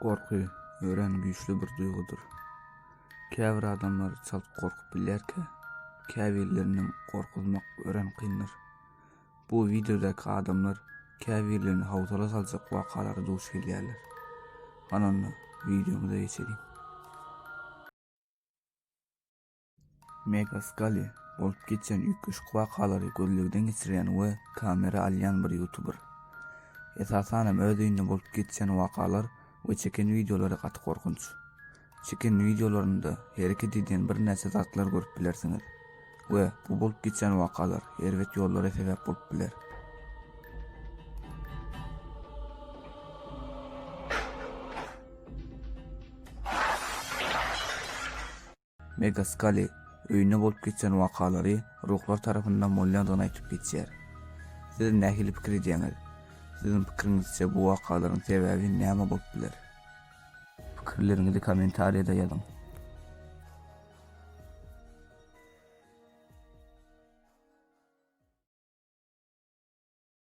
Gorky örän güýçli bir duýgudyr. Käbir adamlar çalt gorkup bilýärkä, käbirlerinden gorkuzmak örän kyndyr. Bu wideodaky adamlar käbirlerini hawsala saljak wakalara duş gelýärler. Hany onda wideomyza geçeliň. Megas Gally bolup geçýän üýtgeşik wakalary gözlegden geçirýän we kamera alýan bir ýutuber. Esasanam öz öýünde bolup geçýän wakalar we çeken wideolary gaty gorkunç. Çeken wideolarynda hereket edýän birnäçe zatlar görüp bilersiňiz we bu bolup geçýän wakalar erbet ýollara sebäp bolup biler. Megaskali öýünde bolup geçen wakalary ruhlar tarapyndan bolýandygyny aýdyp geçýär. Siz nähili pikir edýäňiz? Siziň pikiriňizçe bu wakalaryň sebäbi näme bolup biler? Pikirleriňizi kommentariýada ýazyň.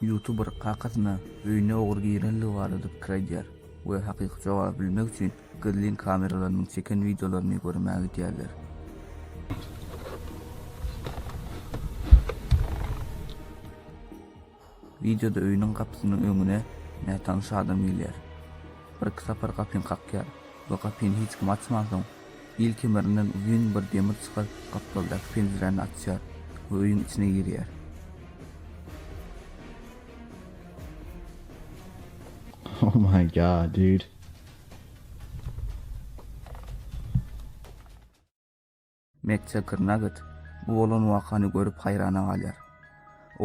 Youtuber kakasyna öýüne ogry girendigi barada pikir aýdýar we hakyky jogaby bilmek üçin gizlin kameralarynyň çeken wideolaryny görmä gidýärler. Wideoda öýüniň gapysynyň öňüne nätanyş adam gelýär. Birki sapar gapyny kakýar we gapyny hiç kim açmansoň, Il kemerinden uzyn bir demir çykaryp, gapdaldaky penjiräni açýar we öýüň içine girýär. Oh my god, dude. Matt Çaker Nugget bu bolan wakany görüp haýrana galýar.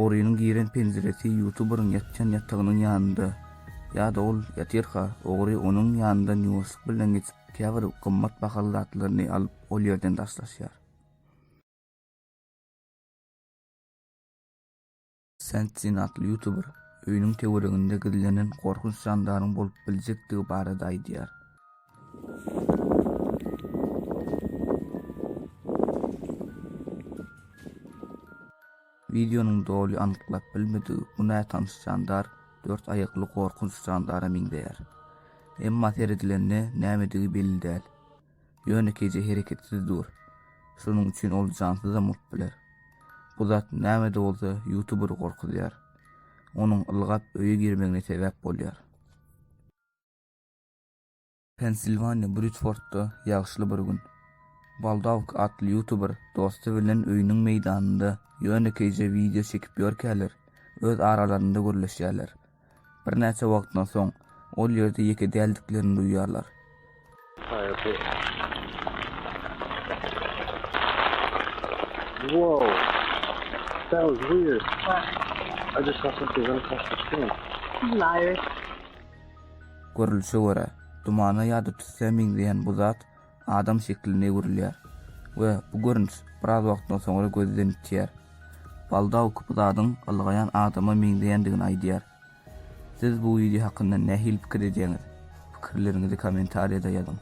Orynyň giren penjiresi ýutuberyň ýatýan ýatagynyň ýanynda. Ýa-da ol ýatyrka, ogry onuň ýanyndan ýuwaşlyk bilen geçip, käbir gymmat bahaly zatlaryny alyp, ol ýerden daşlaşýar. Sensin atly ýutuber öýüniň töwereginde gizlenen gorkunç jandaryň bolup biljekdigi barada aýdýar. Wideonyň doly anyklap bilmedik bu nätanyş jandar dört aýakly gorkunç jandara meňzeýär. Emma seredilende nämedigi belli däl. Ýönekeýje hereketsiz dur. Şonuň üçin ol jansyzam bolup biler. Bu zat nämede bolsa ýutuberi gorkuzýar. Onuň ylgap öýe girmegine sebäp bolýar. Pensilwaniýa Bridfordda ýagşyly bir gün. Baldawk atly ýutuber dosty bilen öýüniň meýdanynda ýönekeýje wideo çekip ýörkäler, öz aralarynda gürleşýärler. Birnäçe wagtdan soň, ol ýerde ýeke däldiklerini duýýarlar. Görlüşe görä, dumana ýa-da tüssä meňzeýän bu zat adam şekline öwrülýär we bu görnüş biraz wagtdan soňra gözden ýitýär. Baldawk bu zadyň ylgaýan adama meňzeýändigini aýdýar. Siz bu wideo hakynda nähili pikir edýäňiz? Pikirleriňizi kommentariýada ýazyň.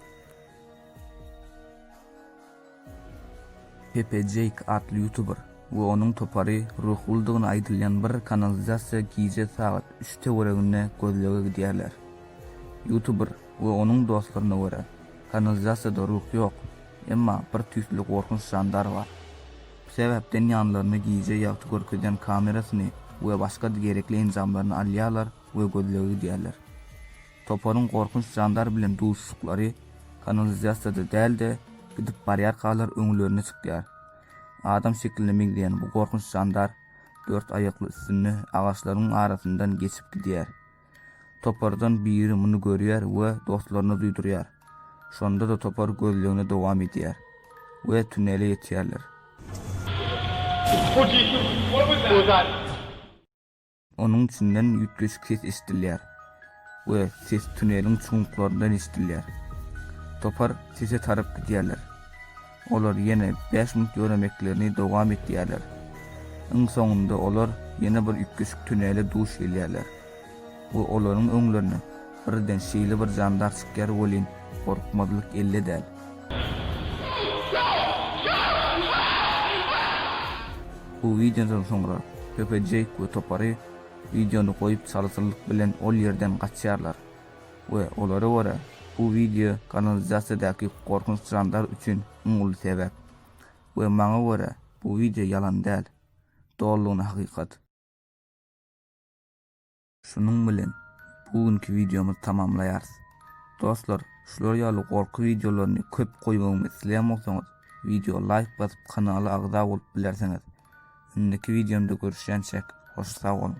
Pepe Jeýk atly ýutuber we onuň topary ruhlydygyny aýdylýan bir kanalizasiýa gije sagat üç töwereginde gözlege gidýärler. Ýutuber we onuň dostlaryna görä, kanalizasiýada ruh ýok, emma bir tüýsli gorkunç jandar bar. Bu sebäpden ýanlaryna gije ýagty görkezýän kamerasyny we başga-da gerekli enjamlaryny alýarlar we gözlege gidýärler. Toparyň gorkunç jandar bilen duşuşyklary kanalizasiýada däl-de, gidip barýarkalar öňlerine çykýar. Adam şekline meňzeýän bu gorkunç jandar dört aýakly üstünde agaçlaryň arasyndan geçip gidýär. Topardan biri muny görýär we dostlaryna duýdurýar. Şonda-da topar gözlegini dowam edýär we tunele ýetýärler. Onuň içinden üýtgeşik ses eşidilýär we ses tuneliň çuňluklaryndan eşidilýär. Topar sese tarap gidýärler. Olar ýene bäş minut ýöremeklerini dowam etýärler. Iň soňunda olar ýene bir üýtgeşik tunele duş gelýärler we olaryň öňlerine Birden şeýle bir jandar çykýar welin, gorkmazlyk elde däl. Bu wideodan soňra Pepe Jeýk we topary wideony goýup çalasynlyk bilen ol ýerden gaçýarlar we olara görä bu wideo kanalizasiýadaky gorkunç jandar üçin iň uly sebäp. We maňa görä bu wideo ýalan däl. Dolulygyna hakykat. Şunuň bilen bu günki wideomyzy tamamlaýarys. Dostlar, şular ýaly gorky wideolaryny köp goýmagymy isleýän bolsaňyz, wideo laýk basyp kanala agza bolup bilersiňiz. Indiki wideomda görüşýänçäk, hoş sag boluň!